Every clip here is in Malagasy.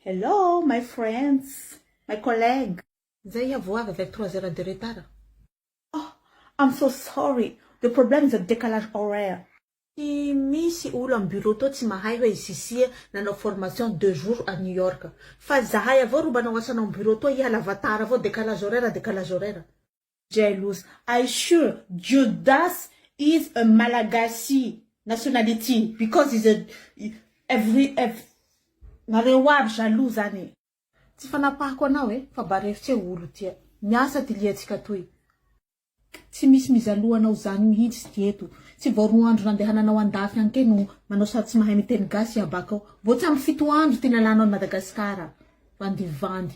Hello my friends, my colleague. Zay iah vo avy avec trois heures de retard. Oh I'm so sorry, the problem is a decalage horaire. Tsy misy olo am bureau tao tsy mahay hoe i Cicie nanao formation deux jours à New York. Fa zahay avao ro manao asanao am bureau tao hiala vatara avao decalage horaire decalage horaire. Jealous I sure Judas is a Malagasy nationality because is a every ev nareo aby jaloux zany e. Tsy fanapahako anao e fa barefitse olo tia miasa ty liantsika toy k tsy misy mizaloha anao zany mihitsy ty eto tsy vao roa andro nandehananao andafy any ke no manao sary tsy mahay miteny gasy iabakao vao tsy ampy fito andro ty nalanao any Madagascar bandy vandy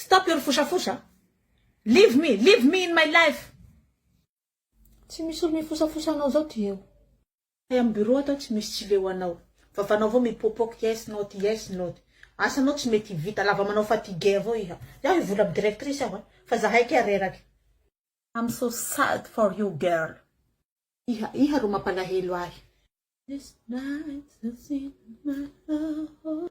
Stop your fosafosa. Leave me, leave me in my life. Tsy misy olo mifosafosa anao zao ty eo. Ay am bureau ato tsy misy tsy leo anao. Vavanao avao mipopoka yes not yes not. Asanao tsy mety vita lava manao fatigue avao iha. Izaho hivola am directrice aho a. Fa zahay kay reraka. I'm so sad for you girl. Iha iha ro mampalahelo ahy. This night has seen my love.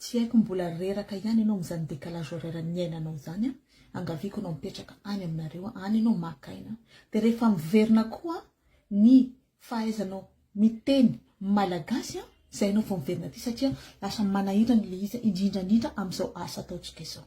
Tsy haiko mbola reraka ihany ianao amin'izany décalage horaire niainanao izany an! Angaviako ianao mipetraka any aminareo any ianao maka aina dia rehefa miverina koa ny fahaizanao miteny malagasy an! izay ianao vao miverina aty satria lasa manahirana ilay izy indrindra indrindra amin'izao asa ataontsika izao.